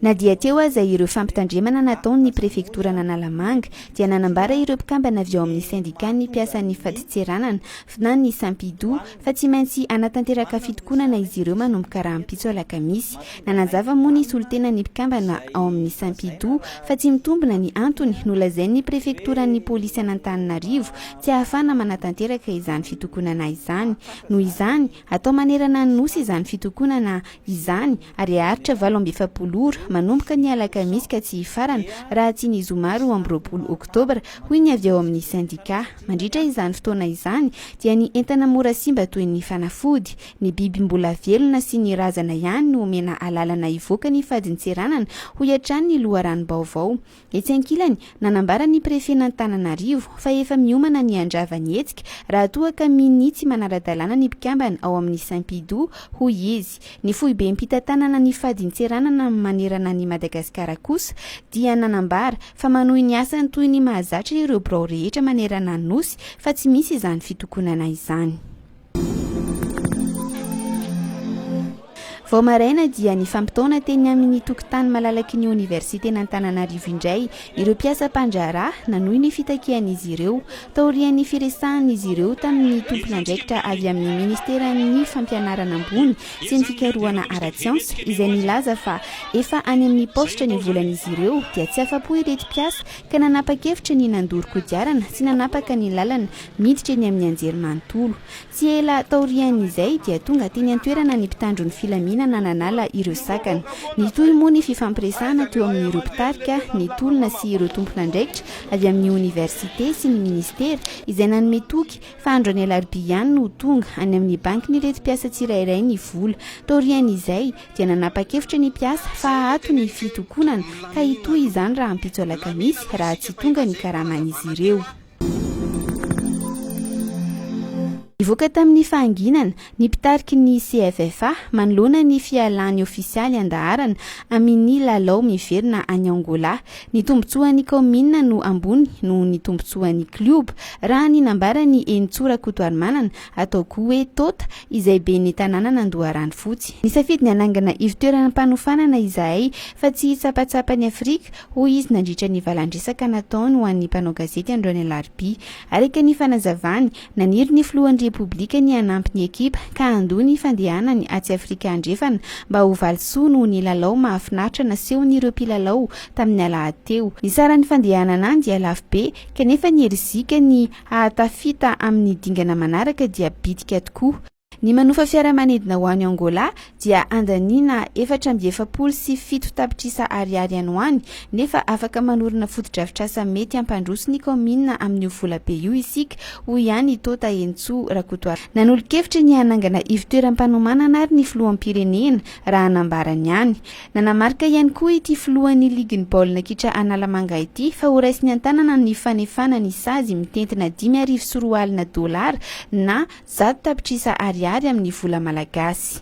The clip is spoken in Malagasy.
Na dia teo aza ireo fampitandremana nataon'ny prefektoran'Analamanga dia nanambara ireo mpikambana avy ao amin'ny sendikàn'ny mpiasan'ny fadintseranana fna ny Sampidu fa tsy maintsy hanatanteraka fitokonana izy ireo manomboka rahampitso alakamisy. Nanazava moa ny solontenan'ny mpikambana ao amin'ny Sampidu fa tsy mitombina ny antony nolazain'ny prefektoran'ny polisy an'Antananarivo tsy ahafahana manatanteraka izany fitokonana izany. Noho izany, atao manerana ny Nosy izany fitokonana izany ary haharitra valo amby efapolo ora, manomboka ny alakamisy ka tsy hifarana raha tsy ny zoma roa amby roapolo oktobra, hoy ny avy ao amin'ny sendikà. Mandritra izany fotoana izany dia ny entana mora simba toy ny fanafody, ny biby mbola velona sy ny razana ihany no omena alalana hivoaka ny fadintseranana, hoy hatrany ny loharanom-baovao. Etsy ankilany, nanambara ny prefen'Antananarivo, fa efa miomana ny handrava ny hetsika raha toa ka minia tsy manara-dalàna ny mpikambana ao amin'ny Simpidu, hoy izy. Ny foibem-pitantanana ny fadintseranana manerana an'i Madagasikara kosa dia nanambara, fa manohy ny asany toy ny mahazatra ireo birao rehetra manerana ny Nosy, fa tsy misy izany fitokonana izany. Vao maraina dia nifampitaona teny amin'ny tokotany malalaky ny oniversiten'Antananarivo indray ireo mpiasa mpandraharaha nanohy ny fitakian'izy ireo, taorian'ny firesahan'izy ireo tamin'ny tompon'andraikitra avy amin'ny ministeran'ny Fampianarana ambony sy ny fikarohana ara-tsiansa izay nilaza fa efa any amin'ny paositra ny volan'izy ireo dia tsy afa-po ireto mpiasa ka nanapa-kevitra ny nandoro kodiarana sy nanapaka ny lalana Niditra eny amin'ny anjery manontolo. Tsy ela taorian'izay dia tonga teny an-toerana ny mpitandro ny filaminana nanala ireo sakana. Nitohy moa ny fifampiresahana teo amin'ireo mpitarika, ny tolona sy ireo tompon'andraikitra avy amin'ny oniversite sy ny minisitera izay nanome toky fa andro any alarobia ihany no ho tonga any amin'ny bankin'ireto mpiasa tsirairay ny vola. Taorian'izay dia nanapa-kevitra ny mpiasa fa ato ny fitokonana ka hitohy izany rahampitso alakamisy raha tsy tonga ny karaman'izy ireo. Nivoaka tamin'ny fahanginana ny mpitariky ny CFFA manoloana ny fialan'ny ofisialy an-daharana amin'ny lalao miverina any Angola. Ny tombontsoan'ny kaominina no ambony noho ny tombontsoan'ny klioba, raha ny nambaran'i Henintsoa Rakotoarimanana, atao koa hoe Tota, izay ben'ny tanànan'Andoharanofotsy. Nisafidy ny hanangana ivo-toerana am-panofanana izahay fa tsy hitsapatsapa an'i Afrika, hoy izy nandritra ny valan-dresaka nataony ho an'ny mpanao gazety androany alarobia. Araka ny fanazavany, naniry ny filohan'ny Repoblika ny hanampy ny ekipa ka handoa ny fandehanany atsy Afrika Andrefana mba ho valisoa noho ny lalao mahafinaritra nasehon'ireo mpilalao tamin'ny alahady teo. Ny saran'ny fandehanana any dia lafo be kanefa ny herizika ny hahatafita amin'ny dingana manaraka dia bitika tokoa. Ny manofa fiaramanidina ho any Angola dia andaniana efatra amby efapolo sy fito tapitrisa ariary any ho any nefa afaka manorina fotodrafitrasa mety hampandroso ny kaominina amin'io volabe io isika, hoy ihany i Tota Henintsoa Rakotoarivelo. Nanolo-kevitra ny hanangana ivotoeram-panomanana ary ny filoham-pirenena, raha nambarany ihany. Nanamarika ihany koa ity filohan'ny ligin'ny baolina kitra Analamanga ity fa horaisiny an-tanana ny fanefana ny sazy mitentina dimy arivo sy roa alina dolara na Zato tapitrisa ariary amin'ny vola malagasy.